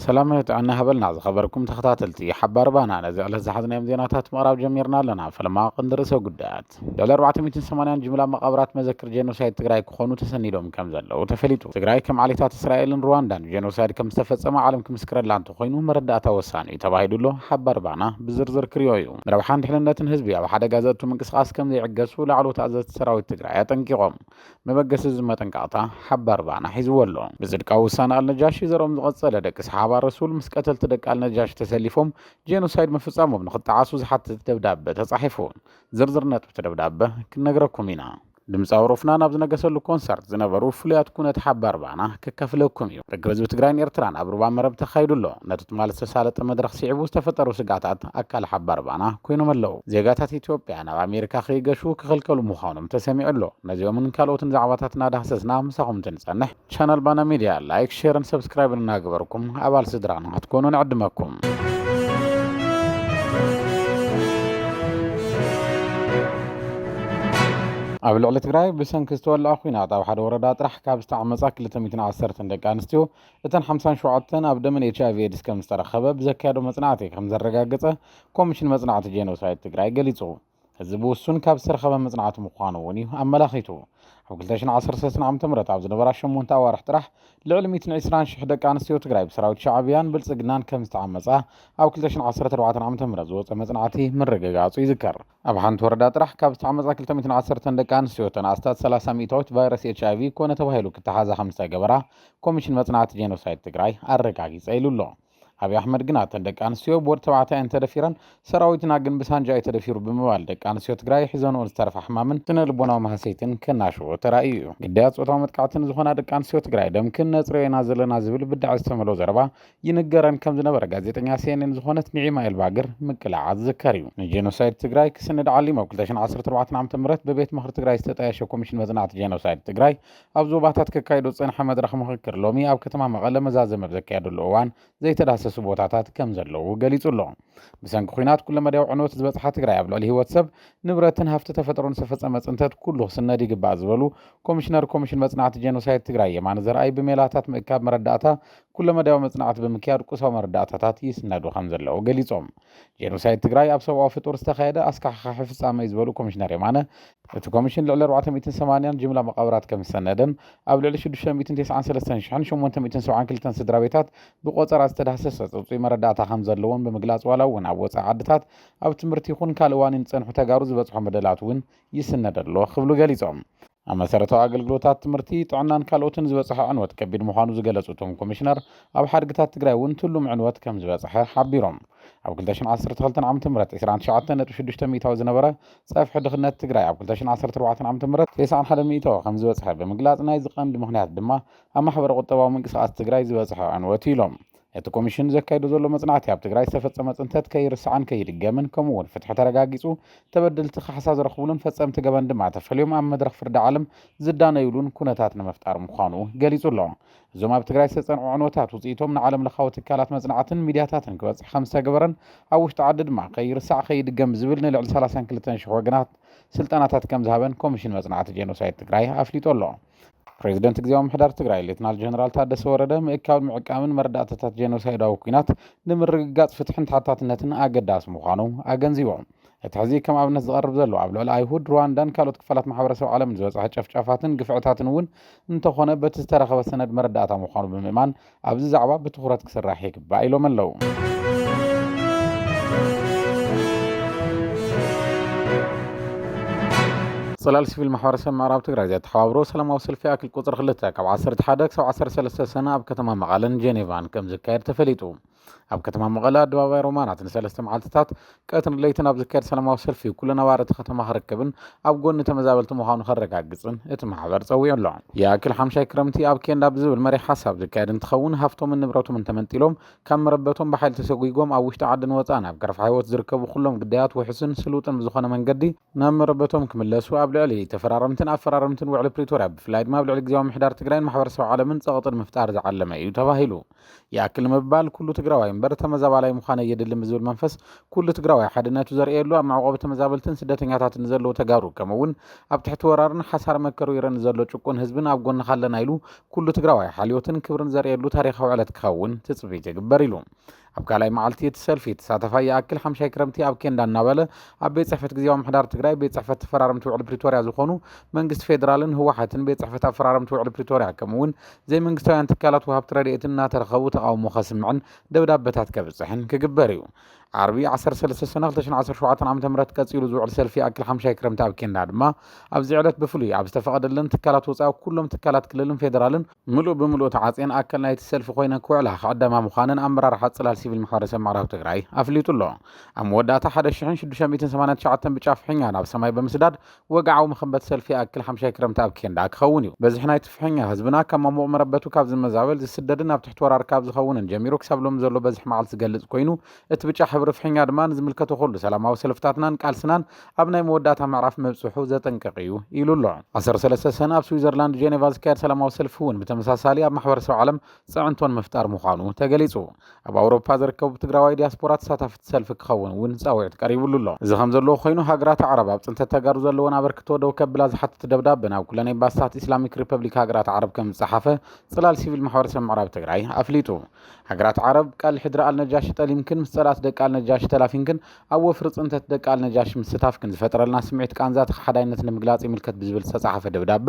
ሰላም ጥዕና ሃበልና ዝኸበርኩም ተኸታተልቲ ሓባር ባና ነዚ ዕለት ዝሓዝናዮም ዜናታት ምቕራብ ጀሚርና ኣለና ፈለማ ቅንዲ ርእሰ ጉዳያት መቓብራት ልዕሊ ኣርባዕተ ሚእትን ሰማንያን ጅምላ መቓብራት መዘክር ጄኖሳይድ ትግራይ ክኾኑ ተሰኒዶም ከምዘለዉ ተፈሊጡ። ትግራይ ከም ዓሌታት እስራኤልን ሩዋንዳን ጄኖሳይድ ከምዝተፈፀመ ዓለም ክምስክረላ እንተኾይኑ መረዳእታ ወሳኒ እዩ ተባሂሉ ኣሎ፣ ሓባር ባና ብዝርዝር ክሪኦ እዩ። ንረብሓን ድሕንነትን ህዝቢ ኣብ ሓደጋ ዘእቱ ምንቅስቓስ ከምዘይዕገሱ ላዕለዎት ኣዘዝቲ ሰራዊት ትግራይ ኣጠንቂቖም። መበገሲ እዚ መጠንቀቕታ ሓባር ባና ሒዝዎ ኣሎ። ብፅድቃዊ ውሳነ ኣልነጃሺ ዘርኦም ዝቐፀለ ደቂ ሰሓባ ረሱል ምስ ቀተልቲ ደቂ ኣልነጃሺ ተሰሊፎም ጄኖሳይድ ምፍፃሞም ንኽጠዓሱ ዝሓትት ደብዳበ ተፃሒፉ። ዝርዝር ነጥብቲ ደብዳበ ክንነግረኩም ኢና። ድምፃዊ ሮፍናን ኣብ ዝነገሰሉ ኮንሰርት ዝነበሩ ፍሉያት ኩነት ሓባር ባና ክከፍለኩም እዩ። ርክብ ህዝቢ ትግራይን ኤርትራን ኣብ ሩባ መረብ ተኻይዱ ኣሎ። ነቲ ትማሊ ዝተሳለጠ መድረኽ ስዒቡ ዝተፈጠሩ ስግኣታት ኣካል ሓባር ባና ኮይኖም ኣለው። ዜጋታት ኢትዮጵያ ናብ ኣሜሪካ ከይገሹ ክኽልከሉ ምዃኖም ተሰሚዑ ኣሎ። ነዚኦምን ካልኦትን ዛዕባታት እናዳህሰስና ምሳኹም እንትንፀንሕ ቻናል ባና ሚድያ ላይክ ሼርን ሰብስክራይብን እናገበርኩም ኣባል ስድራና ክትኮኑ ንዕድመኩም ኣብ ልዕሊ ትግራይ ብሰንኪ ዝተወልዐ ኩናት ኣብ ሓደ ወረዳ ጥራሕ ካብ ዝተዓመፃ 210 ደቂ ኣንስትዮ እተን 57 ኣብ ደመን ኤች ኣይቪ ኤድስ ከም ዝተረኸበ ብዘካየዶ መፅናዕቲ ከም ዘረጋገፀ ኮሚሽን መፅናዕቲ ጄኖሳይድ ትግራይ ገሊፁ እዚ ብውሱን ካብ ዝተረኸበ መጽናዕቲ ምዃኑ እውን እዩ ኣመላኺቱ። ኣብ 2013 ዓ ም ኣብ ዝነበራ ሸሞንተ ኣዋርሕ ጥራሕ ልዕሊ 120 ሽሕ ደቂ ኣንስትዮ ትግራይ ብሰራዊት ሻዕብያን ብልጽግናን ከም ዝተዓመጻ ኣብ 2014 ዓ ም ዝወፀ መጽናዕቲ ምርግጋጹ ይዝከር። ኣብ ሓንቲ ወረዳ ጥራሕ ካብ ዝተዓመጻ 210 ደቂ ኣንስትዮ ተን ኣስታት 30 ሚእታዊት ቫይረስ ኤች ኣይቪ ኮነ ተባሂሉ ክተሓዛ ከም ዝተገበራ ኮሚሽን መጽናዕቲ ጄኖሳይድ ትግራይ ኣረጋጊጸ ኢሉ ኣሎ። ኣብዪ ኣሕመድ ግና እተን ደቂ ኣንስትዮ ብወዲ ተባዕታይ እንተደፊረን ሰራዊትና ግን ብሳንጃ እዩ ተደፊሩ ብምባል ደቂ ኣንስትዮ ትግራይ ሒዘንኦ ዝተረፋ ሕማምን ስነ ልቦናዊ ማህሰይትን ከናሽዎ ተራእዩ እዩ። ግዳያት ፆታዊ መጥቃዕቲ ንዝኾና ደቂ ኣንስትዮ ትግራይ ደም ክነፅርዮ ኢና ዘለና ዝብል ብዳዕ ዝተመልኦ ዘረባ ይንገረን ከምዝነበረ ጋዜጠኛ ሲኤንኤን ዝኾነት ኒዒማ ኤልባግር ምቅላዓ ዝዝከር እዩ። ንጄኖሳይድ ትግራይ ክስንድ ዓሊሙ ኣብ ክልተ ሽሕን ዓሰርተ ኣርባዕተን ዓመተ ምህረት ብቤት ምኽሪ ትግራይ ዝተጣየሸ ኮሚሽን መፅናዕቲ ጄኖሳይድ ትግራይ ኣብ ዞባታት ከካይዶ ዝጸንሐ መድረኽ ምኽክር ሎሚ ኣብ ከተማ መቐለ መዛዘሚ ኣብ ዘካየደሉ እዋን ዘይተዳሰሱ ቦታታት ከም ዘለዉ ገሊጹ ኣሎ። ብሰንኪ ኲናት ኩለመዳያዊ ዕንወት ዝበጽሓ ትግራይ ኣብ ልዕሊ ህይወት ሰብ፣ ንብረትን ሃፍቲ ተፈጥሮን ዝተፈጸመ ጽንተት ኩሉ ክስነድ ይግባእ ዝበሉ ኮሚሽነር ኮሚሽን መጽናዕቲ ጄኖሳይድ ትግራይ የማነ ዘርኣይ ብሜላታት ምእካብ መረዳእታ ኩለመዳያዊ መጽናዕቲ ብምክያድ ቁሳዊ መረዳእታታት ይስነዱ ከም ዘለዉ ገሊጾም። ጄኖሳይድ ትግራይ ኣብ ሰብኣዊ ፍጡር ዝተኻየደ ኣስካሕኻሒ ፍፃመ እዩ ዝበሉ ኮሚሽነር የማነ፣ እቲ ኮሚሽን ልዕሊ ኣርባዕተ ሚእትን ሰማንያን ጅምላ መቓብራት ከምዝሰነደን ኣብ ልዕሊ ሽዱሽተ ሚእትን ተስዓን ሰለስተን ሽሕን ሸሞንተ ሚእትን ሰብዓን ክልተን ስድራቤታት ብቖፀራ ዝተዳህሰሰ ፅፁይ መረዳእታ ከምዘለዎን ብምግላፅ ዋላ እውን ኣብ ወፃኢ ዓድታት ኣብ ትምህርቲ ይኹን ካልእ ዋኒን ዝፀንሑ ተጋሩ ዝበፅሖም በደላት እውን ይስነድ ኣሎ ክብሉ ገሊፆም። ኣብ መሰረታዊ ኣገልግሎታት፣ ትምህርቲ፣ ጥዕናን ካልኦትን ዝበፅሐ ዕንወት ከቢድ ምዃኑ ዝገለፁ እቶም ኮሚሽነር፣ ኣብ ሓድግታት ትግራይ እውን ትሉም ዕንወት ከምዝበፅሐ ሓቢሮም። ኣብ ክልተ ሽሕን ዓሰርተ ክልተን ዓመተ ምህረት ዕስራን ትሽዓተን ነጥቢ ሽዱሽተ ሚኢታዊ ዝነበረ ፀፍሒ ድኽነት ትግራይ ኣብ ክልተ ሽሕን ዓሰርተ ኣርባዕተን ዓመተ ምህረት ቴስዓን ሓደን ሚኢታዊ ከምዝበፅሐ ብምግላፅ ናይዚ ቀንዲ ምኽንያት ድማ ኣብ ማሕበረ ቁጠባዊ ምንቅስቓስ ትግራይ ዝበፅሐ ዕንወት እዩ ኢሎም። እቲ ኮሚሽን ዘካይዶ ዘሎ መፅናዕቲ ኣብ ትግራይ ዝተፈፀመ ፅንተት ከይርሳዕን ከይድገምን ከምኡ እውን ፍትሒ ተረጋጊፁ ተበደልቲ ካሕሳ ዝረኽቡሉን ፈፀምቲ ገበን ድማ ተፈልዮም ኣብ መድረኽ ፍርዲ ዓለም ዝዳነዩሉን ኩነታት ንምፍጣር ምዃኑ ገሊፁ ኣሎ። እዞም ኣብ ትግራይ ዝተፀንዑ ዕንወታት ውፅኢቶም ንዓለም ለኻዊ ትካላት መፅናዕትን ሚድያታትን ክበፅሕ ከምዝተገበረን ኣብ ውሽጢ ዓዲ ድማ ከይርሳዕ ከይድገም ብዝብል ንልዕሊ ሰላሳን ክልተን ሽሕ ወገናት ስልጠናታት ከምዝሃበን ኮሚሽን መፅናዕቲ ጄኖሳይድ ትግራይ ኣፍሊጡ ኣሎ። ፕሬዚደንት ግዜያዊ ምሕዳር ትግራይ ሌትናል ጀነራል ታደሰ ወረደ ምእካብን ምዕቃምን መረዳእታታት ጄኖሳይዳዊ ኩናት ንምርግጋፅ ፍትሕን ተሓታትነትን ኣገዳሲ ምዃኑ ኣገንዚቦም። እቲ ሕዚ ከም ኣብነት ዝቐርብ ዘሎ ኣብ ልዕሊ ኣይሁድ ሩዋንዳን ካልኦት ክፋላት ማሕበረሰብ ዓለምን ዝበፅሐ ጨፍጫፋትን ግፍዕታትን እውን እንተኾነ በቲ ዝተረኸበ ሰነድ መረዳእታ ምዃኑ ብምእማን ኣብዚ ዛዕባ ብትኹረት ክስራሕ ይግባእ ኢሎም ኣለው። ፅላል ሲቪል ማሕበረሰብ ምዕራብ ትግራይ ዘተሓባብሮ ሰላማዊ ሰልፊ ኣክል ቁፅሪ ክልተ ካብ 11 ክሳብ 13 ሰነ ኣብ ከተማ መቐለን ጄኔቫን ከም ዝካየድ ተፈሊጡ ኣብ ከተማ መቐለ ኣደባባይ ሮማናት ንሰለስተ መዓልትታት ቀትርን ለይትን ኣብ ዝካየድ ሰላማዊ ሰልፊ ኩሉ ነባሪ እቲ ከተማ ክረከብን ኣብ ጎኒ ተመዛበልቲ ምዃኑ ከረጋግፅን እቲ ማሕበር ፀዊዑ ኣሎ። ይኣክል ሓምሻይ ክረምቲ ኣብ ኬንዳ ብዝብል መሪሕ ሓሳብ ዝካየድ እንትኸውን ሃፍቶምን ንብረቶምን ተመንጢሎም ካብ መረበቶም ብሓይሊ ተሰጒጎም ኣብ ውሽጢ ዓድን ወፃእን ኣብ ገረፍ ሓይወት ዝርከቡ ኩሎም ግዳያት ውሑስን ስሉጥን ብዝኾነ መንገዲ ናብ መረበቶም ክምለሱ ኣብ ልዕሊ ተፈራረምትን ኣፈራረምትን ውዕሊ ፕሪቶርያ ብፍላይ ድማ ኣብ ልዕሊ ግዝያዊ ምምሕዳር ትግራይን ማሕበረሰብ ዓለምን ፀቕጢ ንምፍጣር ዝዓለመ ኢዩ ተባሂሉ። ይኣክል ምባል ኩሉ ትግራዋይ እምበር ተመዛባላይ ምዃን ኣየድልን ብዝብል መንፈስ ኩሉ ትግራዋይ ሓድነቱ ዘርእየሉ ኣብ መዕቆቢ ተመዛበልትን ስደተኛታትን ንዘለዉ ተጋሩ ከምኡ እውን ኣብ ትሕቲ ወራርን ሓሳር መከር ወይረ ንዘሎ ጭቁን ህዝብን ኣብ ጎንኻ ኣለና ኢሉ ኩሉ ትግራዋይ ሓልዮትን ክብርን ዘርእየሉ ታሪኻዊ ዕለት ክኸውን ትፅቢት ይግበር ኢሉ ኣብ ካልኣይ መዓልቲ እቲ ሰልፊ ተሳተፋይ ይኣክል ሓምሻይ ክረምቲ ኣብ ኬንዳ እናበለ ኣብ ቤት ፅሕፈት ግዜያዊ ምሕዳር ትግራይ ቤት ፅሕፈት ተፈራረምቲ ውዕሊ ፕሪቶርያ ዝኾኑ መንግስቲ ፌዴራልን ህወሓትን ቤት ፅሕፈት ኣፈራረምቲ ውዕሊ ፕሪቶርያ ከምኡ እውን ዘይመንግስታውያን ትካላት ወሃብቲ ረድኤትን እናተረኸቡ ተቓውሞ ከስምዕን ደብዳበታት ከብጽሕን ክግበር እዩ። ዓርቢ ዓሰርተ ሰለስተ ሰነ ክልተ ሽሕን ዓሰርተ ሸውዓተን ዓመተ ምህረት ቀጺሉ ዝውዕል ሰልፊ ይኣክል ሓምሻይ ክረምቲ ኣብ ኬንዳ ድማ ኣብዚ ዕለት ብፍሉይ ኣብ ዝተፈቐደለን ትካላት ወጻኢ ኩሎም ትካላት ክልልን ፌደራልን ምሉእ ብምሉእ ተዓጽየን ኣካል ናይቲ ሰልፊ ኮይነን ክውዕላ ክዕደማ ምዃነን ኣመራርሓ ጽላል ሲቪል ማሕበረሰብ ምዕራብ ትግራይ ኣፍሊጡ ኣሎ። ኣብ መወዳእታ ሓደ ሽሕን ሽዱሽተ ሚእትን ሰማንያን ትሽዓተን ብጫ ፍሕኛ ናብ ሰማይ ብምስዳድ ወግዓዊ መኸምበት ሰልፊ ይኣክል ሓምሻይ ክረምቲ ኣብ ኬንዳ ክኸውን እዩ። በዝሒ ናይቲ ፍሕኛ ህዝብና ካብ ማሙቕ መረበቱ ካብ ዝመዛበል፣ ዝስደድን ኣብ ትሕቲ ወራር ካብ ዝኸውንን ጀሚሩ ክሳብ ሎሚ ዘሎ በዝሒ መዓልቲ ዝገልጽ ኮይኑ፣ እቲ ብጫ ሕብሪ ፍሕኛ ድማ ንዝምልከቶ ኩሉ ሰላማዊ ሰልፍታትናን ቃልስናን ኣብ ናይ መወዳእታ ምዕራፍ ምብጽሑ ዘጠንቅቕ እዩ ኢሉ ኣሎ። ዓሰርተ ሰለስተ ሰነ ኣብ ስዊዘርላንድ ጀኔቫ ዝካየድ ሰላማዊ ሰልፊ እውን ብተመሳሳሊ ኣብ ማሕበረሰብ ዓለም ፅዕንቶን ምፍጣር ምዃኑ ተገሊፁ። ኣብ ኣውሮፓ ዝርከቡ ትግራዋይ ዲያስፖራ ተሳታፍቲ ሰልፊ ክኸውን እውን ፃዊዕት ቀሪብሉ ኣሎ። እዚ ከምዘሎ ኮይኑ ሃገራት ኣዕራብ ኣብ ፅንተት ተጋሩ ዘለወን ኣበርክቶ ደው ከብላ ዝሓትት ደብዳበ ናብ ኩለን ኤምባስታት ኢስላሚክ ሪፐብሊክ ሃገራት ዓረብ ከምዝፀሓፈ ፅላል ሲቪል ማሕበረሰብ ምዕራብ ትግራይ ኣፍሊጡ። ሃገራት ዓረብ ቃል ሕድሪ ኣልነጃሺ ጠሊምክን ምስ ፀላእቲ ደቂ ኣልነጃሺ ተላፊንክን ኣብ ወፍሪ ፅንተት ደቂ ኣልነጃሺ ምስታፍክን ዝፈጠረልና ስምዒት ቃንዛቲ ከሓዳይነት ንምግላፅ ይምልከት ብዝብል ዝተፀሓፈ ደብዳበ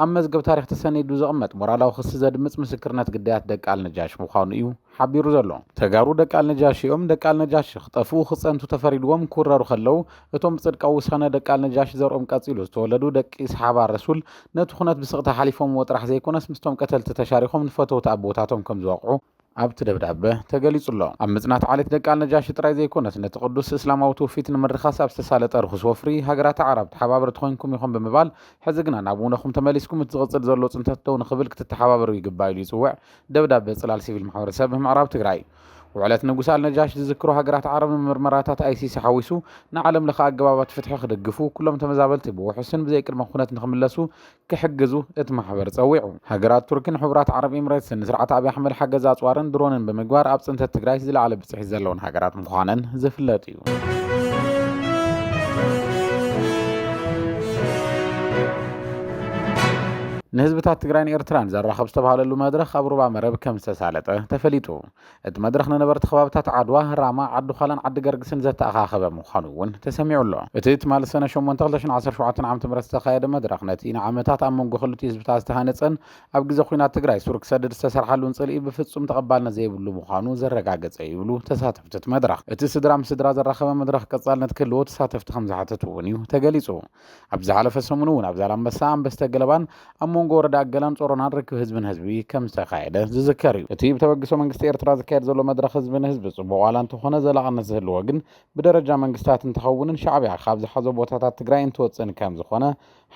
ኣብ መዝገብ ታሪኽ ተሰኒዱ ዝቕመጥ ሞራላዊ ክሲ ዘድምጽ ምስክርነት ግዳያት ደቂ ኣልነጃሽ ምዃኑ እዩ ሓቢሩ ዘሎ። ተጋሩ ደቂ ኣልነጃሽ እዮም፣ ደቂ ኣልነጃሽ ክጠፍኡ ክጸንቱ ተፈሪድዎም ክውረሩ ከለው እቶም ብጽድቃዊ ውሳነ ደቂ ኣልነጃሽ ዘርኦም ቀጺሉ ዝተወለዱ ደቂ ሰሓባ ረሱል ነቲ ኩነት ብስቕታ ሓሊፎምዎ ጥራሕ ዘይኮነስ ምስቶም ቀተልቲ ተሻሪኾም ንፈተውቲ ኣቦታቶም ከምዝወቕዑ ኣብቲ ደብዳበ ተገሊጹ'ሎ። ኣብ ምጽናት ዓሌት ደቂ ኣልነጃሺ ጥራይ ዘይኮነስ፣ ነቲ ቅዱስ እስላማዊ ትውፊት ንምርኻስ ኣብ ዝተሳለጠ ርኹስ ወፍሪ፣ ሃገራት ኣዕራብ ተሓባበርቲ ኮይንኩም ኢኹም ብምባል፣ ሕዚ ግና ናብ ውነኹም ተመሊስኩም እቲ ዝቕጽል ዘሎ ጽንተት ደው ንኽብል ክትተሓባበሩ ይግባእ ኢሉ ይጽውዕ ደብዳበ ጽላል ሲቪል ማሕበረሰብ ምዕራብ ትግራይ። ውዕለት ንጉስ ኣልነጃሽ ዝዝክሩ ሃገራት ዓረብ ንምርመራታት ኣይሲሲ ሓዊሱ ንዓለምለኸ ኣገባባት ፍትሒ ክድግፉ፣ ኩሎም ተመዛበልቲ ብውሑስን ብዘይቅድመ ኩነት ንኽምለሱ ክሕግዙ እቲ ማሕበር ጸዊዑ። ሃገራት ቱርኪን ሕቡራት ዓረብ ኢምሬትስን ንስርዓት ኣብይ ኣሕመድ ሓገዝ ኣጽዋርን ድሮንን ብምግባር ኣብ ጽንተት ትግራይ ዝለዓለ ብጽሒት ዘለወን ሃገራት ምዃነን ዝፍለጥ እዩ። ንህዝብታት ትግራይን ኤርትራን ዘራኽብ ዝተብሃለሉ መድረኽ ኣብ ሩባ መረብ ከምዝተሳለጠ ተፈሊጡ። እቲ መድረኽ ንነበርቲ ከባብታት ዓድዋ፣ ራማ፣ ዓዲ-ዃላን ዓዲ-ገርግስን ዘተኣኻኸበ ምዃኑ'ውን ተሰሚዑ ኣሎ። እቲ ትማሊ ሰነ ሸሞንተ ክልተ ሽሕን ዓሰርተ ሸውዓተን ዓመተ ምህረት ዝተኻየደ መድረኽ፣ ነቲ ንዓመታት ኣብ መንጎ ክልቲኡ ህዝብታት ዝተሃነጸን ኣብ ግዜ ኲናት ትግራይ ሱር ክሰድድ ዝተሰርሓሉን ጽልኢ ብፍጹም ተቐባልነት ዘይብሉ ምዃኑ ዘረጋገጸ'ዩ ይብሉ ተሳተፍቲ'ቲ መድረኽ። እቲ ስድራ ምስ ስድራ ዘራኸበ መድረኽ ቀጻልነት ክህልዎ ተሳተፍቲ ከምዝሓተቱ'ውን'ዩ ተገሊጹ። ኣብ ዝሓለፈ ሰሙን እውን ኣብ ዛላምበሳ፣ ኣንበስተ ገለባን ኣብ መንጎ ወረዳ ገላን ጾሮናን ርክብ ህዝቢ ንህዝቢ ከም ዝተኻየደ ዝዝከር እዩ። እቲ ብተበግሶ መንግስቲ ኤርትራ ዝካየድ ዘሎ መድረኽ ህዝቢ ንህዝቢ ጽቡቕ ዋላ እንተኾነ ዘላቕነት ዝህልዎ ግን ብደረጃ መንግስታት እንተኸውንን ሻዕብያ ካብ ዝሓዞ ቦታታት ትግራይ እንትወጽእን ከም ዝኾነ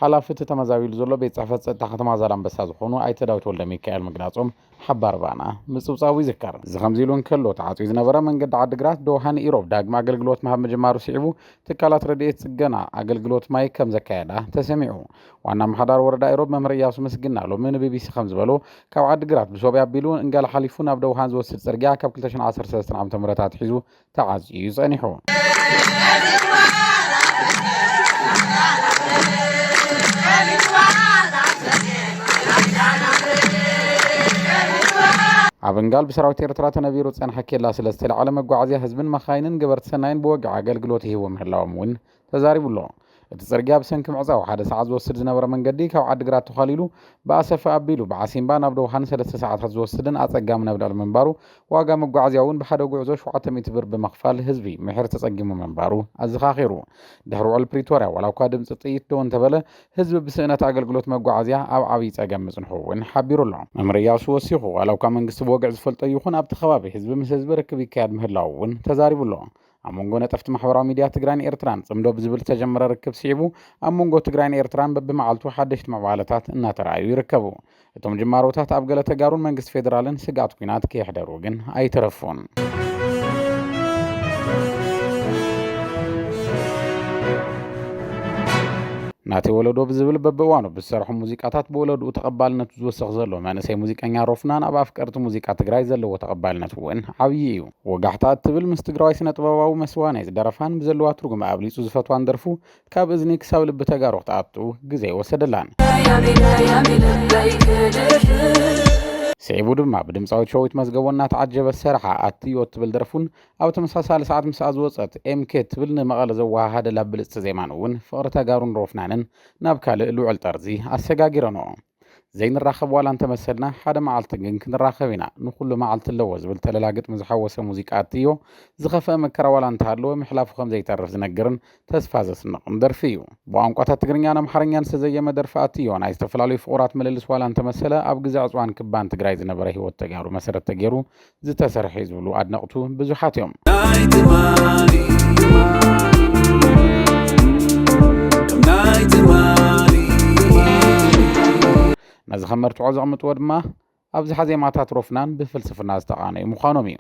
ሓላፊ እቲ ተመዛቢሉ ዘሎ ቤት ጽሕፈት ጸጥታ ከተማ ዛላምበሳ ዝኾኑ ኣይተ ዳዊት ወልደሚካኤል ምግላጾም ሓባር ባና ምጽብጻቡ ይዝከር። እዚ ከምዚ ኢሉ እንከሎ፣ ተዓጽዩ ዝነበረ መንገዲ ዓዲግራት ዶሃ ንኢሮብ ዳግመ ኣገልግሎት ምሃብ ምጅማሩ ስዒቡ፣ ትካላት ረድኤት ጽገና ኣገልግሎት ማይ ከም ዘካየዳ ተሰሚዑ። ዋና ኣመሓዳሪ ወረዳ ኢሮብ መምህር እያሱ ምስግና ሎሚ ንቢቢሲ ከም ዝበሎ፣ ካብ ዓዲግራት ብሶብያ ኣቢሉ፣ እንጋላ ሓሊፉ ናብ ደውሃን ዝወስድ ጽርግያ ካብ ክልተ ሽሕን ዓሰርተ ሰለስተን ዓመተ ምህረት ኣትሒዙ ተዓዝዩ እዩ ጸኒሑ። ኣብ እንጋል ብሰራዊት ኤርትራ ተነቢሩ ዝጸንሐ ኬላ ስለ ዝተላዕለ መጓዓዝያ ህዝብን መኻይንን ገበርቲ ሰናይን ብወግዒ ኣገልግሎት ይህቡ ምህላዎም እውን ተዛሪቡ ኣሎ። እቲ ጽርግያ ብሰንኪ ምዕጻው ሓደ ሰዓት ዝወስድ ዝነበረ መንገዲ ካብ ዓዲግራት ተዃሊሉ ብኣሰፈ ኣቢሉ ብዓሲምባ ናብ ዶሃ ንሰለስተ ሰዓታት ዝወስድን ኣጸጋሚ ነብዳል ምንባሩ ዋጋ መጓዓዝያ እውን ብሓደ ጉዕዞ ሸውዓተ ሚእቲ ብር ብምኽፋል ህዝቢ ምሒር ተጸጊሙ ምንባሩ ኣዘኻኺሩ። ድሕሪ ውዕል ፕሪቶርያ ዋላ እኳ ድምጺ ጥይት ደው እንተበለ ህዝቢ ብስእነት ኣገልግሎት መጓዓዝያ ኣብ ዓብይ ጸገም ምጽንሑ እውን ሓቢሩ ኣሎ። መምህር እያሱ ወሲኹ ዋላ እኳ መንግስቲ ብወግዒ ዝፈልጦ ይኹን ኣብቲ ከባቢ ህዝቢ ምስ ህዝቢ ርክብ ይካየድ ምህላዉ እውን ተዛሪቡ ኣሎ። ኣብ መንጎ ነጠፍቲ ማሕበራዊ ሚድያ ትግራይን ኤርትራን ጽምዶ ብዝብል ዝተጀመረ ርክብ ስዒቡ ኣብ መንጎ ትግራይን ኤርትራን በብመዓልቱ ሓደሽቲ ምዕባለታት እናተረኣዩ ይርከቡ። እቶም ጅማሮታት ኣብ ገለ ተጋሩን መንግስቲ ፌዴራልን ስግኣት ኲናት ከየሕደሩ ግን ኣይተረፉን። ናቲ ወለዶ ብዝብል በብእዋኑ ብዝሰርሖ ሙዚቃታት ብወለድኡ ተቐባልነቱ ዝወሰኽ ዘሎ መንእሰይ ሙዚቀኛ ሮፍናን ኣብ ኣፍቀርቲ ሙዚቃ ትግራይ ዘለዎ ተቐባልነት እውን ዓብዪ እዩ። ወጋሕታ እትብል ምስ ትግራዋይ ስነጥበባዊ መስዋእናይ ዝደረፋን ብዘለዋ ትርጉም ኣብሊፁ ዝፈትዋን ደርፉ ካብ እዝኒ ክሳብ ልቢ ተጋሩ ክትኣቱ ግዘ ኣይወሰደላን። ስዒቡ ድማ ብድምፃዊት ሸዊት መዝገቦ እናተዓጀበ ዝሰረሓ ኣትዮ እትብል ደርፉን ኣብ ተመሳሳሊ ሰዓት ምስኣ ዝወፀት ኤምኬ እትብል ንመቐለ ዘወሃሃደላ ብልፅቲ ዜማን እውን ፍቕሪ ተጋሩን ሮፍናንን ናብ ካልእ ልዑል ጠርዚ ኣሰጋጊረንኦ። ዘይንራኸብ ዋላ እንተመሰልና ሓደ መዓልቲ ግን ክንራኸብ ኢና ንኹሉ መዓልቲ ኣለዎ ዝብል ተለላ ግጥሚ ዝሓወሰ ሙዚቃ እትዮ ዝኸፍአ መከራ ዋላ እንተሃለወ ምሕላፉ ከም ዘይተርፍ ዝነግርን ተስፋ ዘስንቕን ደርፊ እዩ። ብቋንቋታት ትግርኛን ኣምሓርኛን ዝተዘየመ ደርፊ ኣትዮ ናይ ዝተፈላለዩ ፍቑራት ምልልስ ዋላ እንተመሰለ ኣብ ግዘ ዕፅዋን ክባን ትግራይ ዝነበረ ህይወት ተጋሩ መሰረት ተገይሩ ዝተሰርሐ እዩ ዝብሉ ኣድነቕቱ ብዙሓት እዮም። ናይ ትማሊ ከም ናይ ትማሊ ነዚ ከም መርትዖ ዘቕምጥዎ ድማ ኣብዝሓ ዜማታት ሮፍናን ብፍልስፍና ዝተቓነዩ ምዃኖም እዩ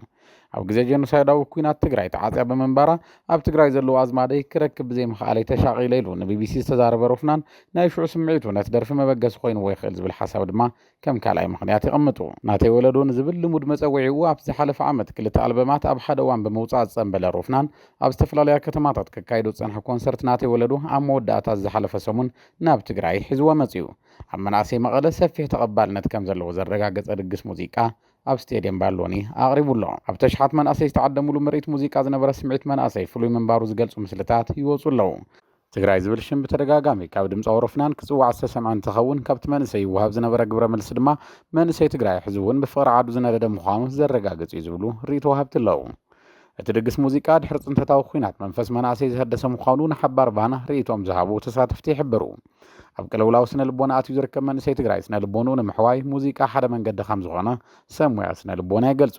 ኣብ ግዜ ጀኖሳይዳዊ ኩናት ትግራይ ተዓፅያ ብምንባራ ኣብ ትግራይ ዘለዉ ኣዝማደይ ክረክብ ብዘይምኽኣለይ ተሻቒለ ኢሉ ንቢቢሲ ዝተዛረበ ሮፍናን ናይ ሽዑ ስምዒቱ ነቲ ደርፊ መበገሲ ኮይንዎ ይኽእል ዝብል ሓሳብ ድማ ከም ካልኣይ ምኽንያት የቐምጡ። ናተይ ወለዶ ንዝብል ልሙድ መጸውዒኡ ኣብ ዝሓለፈ ዓመት ክልተ ኣልበማት ኣብ ሓደ እዋን ብምውጻእ ዝጸንበ ለሮፍናን ኣብ ዝተፈላለያ ከተማታት ከካይዶ ዝጸንሐ ኮንሰርት ናተይ ወለዶ ኣብ መወዳእታ ዝሓለፈ ሰሙን ናብ ትግራይ ሒዝዎ መጺኡ ኣብ መናእሰይ መቐለ ሰፊሕ ተቐባልነት ከም ዘለዎ ዘረጋገጸ ድግስ ሙዚቃ ኣብ ስቴድየም ባሎኒ ኣቕሪቡ ኣሎ። ኣብ ተሽሓት መናእሰይ ዝተዓደምሉ ምርኢት ሙዚቃ ዝነበረ ስምዒት መናእሰይ ፍሉይ ምንባሩ ዝገልጹ ምስልታት ይወጹ ኣለዉ። ትግራይ ዝብል ሽም ብተደጋጋሚ ካብ ድምፂ ኣውሮፍናን ክፅዋዕ ዝተሰምዐ እንትኸውን ካብቲ መንእሰይ ይወሃብ ዝነበረ ግብረ መልሲ ድማ መንእሰይ ትግራይ ሕዚ እውን ብፍቕሪ ዓዱ ዝነደደ ምዃኑ ዘረጋግፅ እዩ ዝብሉ ርእይቶ ወሃብቲ ኣለዉ። እቲ ድግስ ሙዚቃ ድሕሪ ፅንተታዊ ኲናት መንፈስ መናእሰይ ዘህደሰ ምዃኑ ንሓባር ቫና ርእይቶኦም ዝሃቡ ተሳተፍቲ ይሕብሩ። ኣብ ቅልውላው ስነ ልቦና ኣትዩ ዝርከብ መንእሰይ ትግራይ ስነ ልቦንኡ ንምሕዋይ ሙዚቃ ሓደ መንገዲ ከም ዝኾነ ሰብ ሙያ ስነ ልቦና ይገልፁ።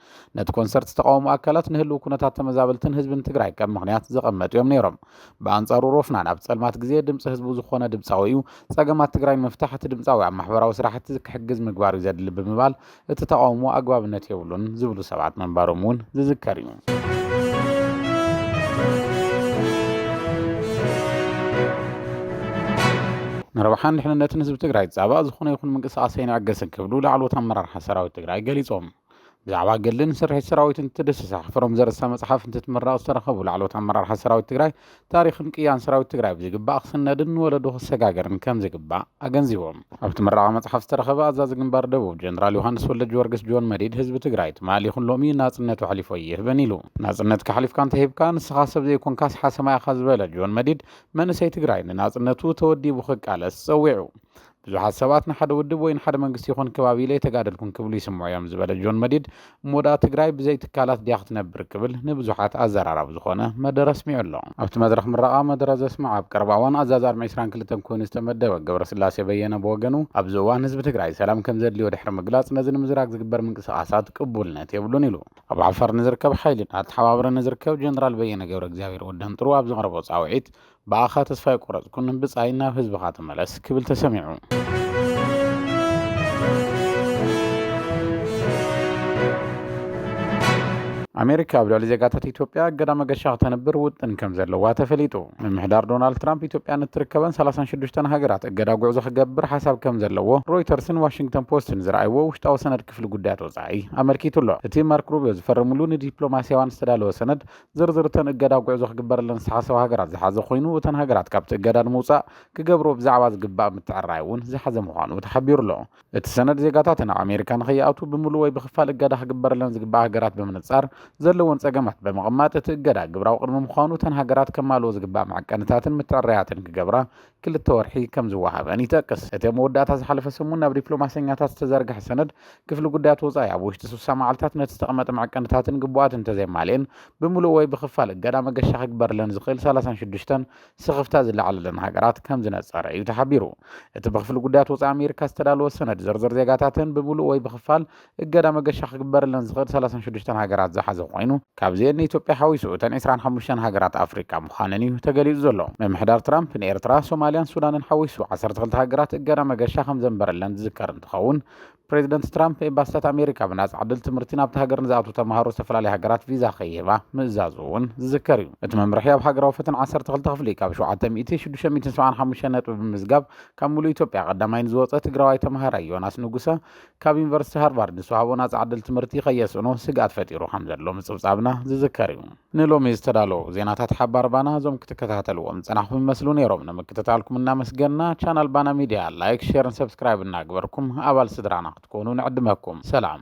ነቲ ኮንሰርት ዝተቃወሙ ኣካላት ንህልው ኩነታት ተመዛበልትን ህዝብን ትግራይ ከም ምክንያት ዘቐመጡ እዮም ነይሮም። ብኣንጻሩ ሮፍናን ኣብ ጸልማት ግዜ ድምጺ ህዝቡ ዝኾነ ድምጻዊ እዩ፣ ጸገማት ትግራይ ንምፍታሕ እቲ ድምጻዊ ኣብ ማሕበራዊ ስራሕቲ ክሕግዝ ምግባር እዩ ዘድሊ ብምባል እቲ ተቃውሞ ኣግባብነት የብሉን ዝብሉ ሰባት ምንባሮም እውን ዝዝከር እዩ። ንረብሓን ድሕንነትን ህዝቢ ትግራይ ዝፃባእ ዝኾነ ይኹን ምንቅስቓስ ኣይንዕገስን ክብሉ ላዕለዎት ኣመራርሓ ሰራዊት ትግራይ ገሊፆም። ብዛዕባ ገድልን ስርሒት ሰራዊትን ትድስሳ ሕፍሮም ዘርእስታ መፅሓፍ እንትትምረቕ ዝተረኸቡ ላዕለዎት ኣመራርሓ ሰራዊት ትግራይ ታሪኽን ቅያን ሰራዊት ትግራይ ብዝግባእ ክስነድን ንወለዶ ክሰጋገርን ከም ዝግባእ ኣገንዚቦም። ኣብቲ ምረቓ መፅሓፍ ዝተረኸበ ኣዛዚ ግንባር ደቡብ ጀነራል ዮሃንስ ወልደጅወርግስ ጆን መዲድ ህዝቢ ትግራይ ትማል ይኹን ሎሚ ናፅነቱ ኣሕሊፉ ኣይህብን ኢሉ። ናፅነትካ ኣሕሊፍካ እንተሂብካ ንስኻ ሰብ ዘይኮንካስ ሓሰማ ኢኻ ዝበለ ጆን መዲድ መንእሰይ ትግራይ ንናፅነቱ ተወዲቡ ክቃለስ ፀዊዑ። ብዙሓት ሰባት ንሓደ ውድብ ወይ ንሓደ መንግስቲ ይኹን ክባቢ ኢለ ኣይተጋደልኩን ክብሉ ይስምዑ እዮም ዝበለ ጆን መዲድ፣ እሞ ደኣ ትግራይ ብዘይ ትካላት ድያ ክትነብር ክብል ንብዙሓት ኣዘራራቢ ዝኾነ መደረ ኣስሚዑ ኣሎ። ኣብቲ መድረኽ ምረቓ መደረ ዘስመዐ ኣብ ቀረባ እዋን ኣዛዚ ኣርሚ ዕስራን ክልተን ኮይኑ ዝተመደበ ገብረስላሴ በየነ ብወገኑ፣ ኣብዚ እዋን ህዝቢ ትግራይ ሰላም ከምዘድልዮ ድሕሪ ምግላፅ፣ ነዚ ንምዝራግ ዝግበር ምንቅስቓሳት ቅቡልነት የብሉን ኢሉ። ኣብ ዓፋር ንዝርከብ ሓይሊ ኣተሓባብረ ንዝርከብ ጀነራል በየነ ገብረእግዚኣብሄር ወደንጥሩ ኣብ ዘቕረቦ ፃውዒት፣ ብኣኻ ተስፋ ኣይቆረጽኩን ብጻይ ናብ ህዝብኻ ተመለስ ክብል ተሰሚዑ። ኣሜሪካ ኣብ ልዕሊ ዜጋታት ኢትዮጵያ እገዳ መገሻ ክተንብር ውጥን ከም ዘለዋ ተፈሊጡ ምምሕዳር ዶናልድ ትራምፕ ኢትዮጵያ ንትርከበን 36 ሃገራት እገዳ ጉዕዞ ክገብር ሓሳብ ከም ዘለዎ ሮይተርስን ዋሽንግተን ፖስትን ዝረኣይዎ ውሽጣዊ ሰነድ ክፍሊ ጉዳያት ወፃኢ ኣመልኪቱ ኣሎ እቲ ማርክ ሩቢዮ ዝፈረምሉ ንዲፕሎማስያዋን ዝተዳለወ ሰነድ ዝርዝር እተን እገዳ ጉዕዞ ክግበረለን ዝተሓሰባ ሃገራት ዝሓዘ ኮይኑ፣ እተን ሃገራት ካብቲ እገዳ ንምውጻእ ክገብርዎ ብዛዕባ ዝግባእ ምትዕርራይ እውን ዝሓዘ ምዃኑ ተሓቢሩ ኣሎ። እቲ ሰነድ ዜጋታተን ኣብ ኣሜሪካ ንኸይኣትዉ ብምሉእ ወይ ብኽፋል እገዳ ክግበረለን ዝግባእ ሃገራት ብምንጻር ዘለወን ጸገማት ብምቕማጥ እቲ እገዳ ግብራዊ ቅድሚ ምዃኑ እተን ሃገራት ከማልኦ ዝግባእ መዐቀንታትን ምትዕርራያትን ክገብራ ክልተ ወርሒ ከም ዝወሃበን ይጠቅስ። እቲ ኣብ መወዳእታ ዝሓለፈ ሰሙን ናብ ዲፕሎማሰኛታት ዝተዘርግሐ ሰነድ፣ ክፍሊ ጉዳያት ወጻኢ ኣብ ውሽጢ ስሳ መዓልታት ነቲ ዝተቐመጠ መዐቀንታትን ግቡኣትን እንተዘየማልኤን ብምሉእ ወይ ብኽፋል እገዳ መገሻ ክግበርለን ዝኽእል ሰላሳን ሽዱሽተን ስኽፍታ ዝለዓለለን ሃገራት ከም ዝነጸረ እዩ ተሓቢሩ። እቲ ብክፍሊ ጉዳያት ወጻኢ ኣሜሪካ ዝተዳለወ ሰነድ፣ ዝርዝር ዜጋታተን ብምሉእ ወይ ብኽፋል እገዳ መገሻ ክግበረለን ዝኽእል ሰላሳን ሽዱሽተን ሃገራት ዝሓዘ ኮይኑ፣ ካብዚኤን ንኢትዮጵያ ሓዊሱ እተን ዕስራን ሓሙሽተን ሃገራት ኣፍሪቃ ምዃነን እዩ ተገሊጹ ዘሎ። ምምሕዳር ትራምፕ ንኤርትራ፣ ሶማልያን ሱዳንን ሓዊሱ ዓሰርተ ክልተ ሃገራት እገዳ መገሻ ከምዘንበረለን ዝዝከር እንትኸውን፣ ፕረዚደንት ትራምፕ ኤምባሲታት ኣሜሪካ ብናጻ ዕድል ትምህርቲ ናብታ ሃገር ንዝኣትዉ ተማሃሮ ዝተፈላለያ ሃገራት ቪዛ ከይህባ ምእዛዙ እውን ዝዝከር እዩ። እቲ መምርሒ ኣብ ሃገራዊ ፈተና ዓሰርተ ክልተ ክፍሊ ካብ ሸውዓተ ሚእቲ፣ ሽዱሽተ ሚእትን ሰብዓን ሓሙሽተን ነጥቢ ብምምዝጋብ ካብ ምሉእ ኢትዮጵያ ቀዳማይ ንዝወጸ ትግራዋይ ተማሃራይ ዮናስ ንጉሰ ካብ ዩኒቨርሲቲ ሃርቫርድ ዝተዋህቦ ናፃ ዕድል ትምህርቲ ከየስእኖ ስግኣት ፈጢሩ ከም ዘሎ ምፅብፃብና ዝዝከር እዩ ንሎሚ ዝተዳለዉ ዜናታት ሓባር ባና እዞም ክትከታተልዎም ዝፀናኹም ይመስሉ ነይሮም ንምክትታልኩም እናመስገና ቻናል ባና ሚድያ ላይክ ሼርን ሰብስክራይብ እናግበርኩም ኣባል ስድራና ክትኮኑ ንዕድመኩም ሰላም